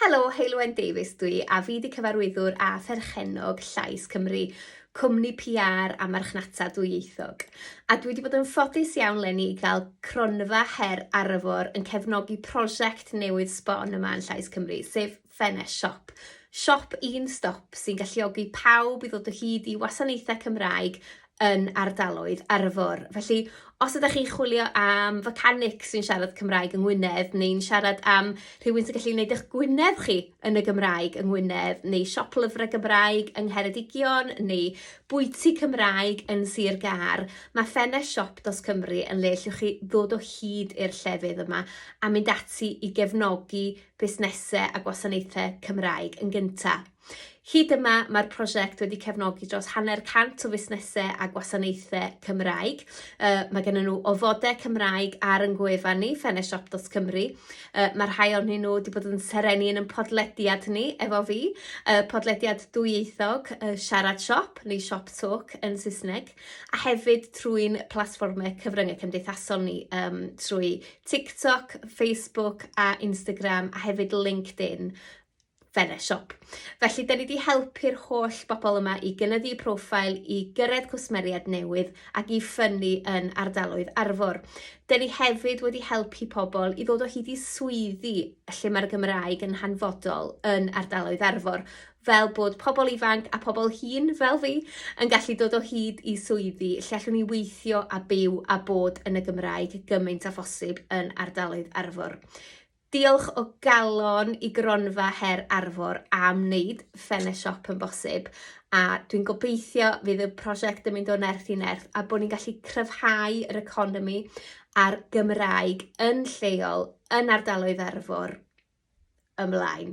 Helo, Heulwen Davies dwi a fi di cyfarwyddwr â pherchennog Llais Cymru, cwmni PR a marchnata dwyieithog. A dwi wedi bod yn ffodus iawn lenni i gael cronfa her arfor yn cefnogi prosiect newydd sbon yma yn Llais Cymru, sef Fenes Siop. Siop un stop sy'n galluogi pawb i ddod o hyd i wasanaethau Cymraeg yn ardaloedd Arfor. Felly, os ydych chi'n chwilio am fecanic sy'n siarad Cymraeg yng Ngwynedd, neu'n siarad am rhywun sy'n gallu gwneud eich Gwynedd chi yn y Gymraeg yng Ngwynedd, neu siop lyfrau Gymraeg yng Ngheredigion, neu bwyty Cymraeg yn Sir Gâr, mae ffenest siop dos Cymru yn le lle chi ddod o hyd i'r llefydd yma a mynd ati i gefnogi busnesau a gwasanaethau Cymraeg yn gyntaf. Hyd yma, mae'r prosiect wedi cefnogi dros hanner cant o fusnesau a gwasanaethau Cymraeg. Uh, mae gen nhw ofodau Cymraeg ar yn gwefan ni, feneshop.cymru. Uh, mae rhai ohonyn nhw wedi bod yn serenu yn yn podlediad ni efo fi, uh, podlediad dwyieithog uh, Siarad Siop neu Siop Talk yn Saesneg, a hefyd trwy'n platfformau cyfryngau cymdeithasol ni um, trwy TikTok, Facebook a Instagram a hefyd LinkedIn fel y siop. Felly, da ni wedi helpu'r holl bobl yma i gynyddu profil, i gyrraedd cwsmeriaid newydd ac i ffynnu yn ardaloedd Arfor. Da ni hefyd wedi helpu pobl i ddod o hyd i swyddi lle mae'r Gymraeg yn hanfodol yn ardaloedd Arfor fel bod pobl ifanc a pobl hŷn fel fi yn gallu dod o hyd i swyddi lle allwn ni weithio a byw a bod yn y Gymraeg gymaint â phosib yn ardaloedd Arfor. Diolch o galon i Gronfa Her Arfor am wneud Fene Shop yn bosib a dwi'n gobeithio fydd y prosiect yn mynd o nerth i nerth a bod ni'n gallu cryfhau yr economi a'r Gymraeg yn lleol yn ardaloedd Arfor ymlaen.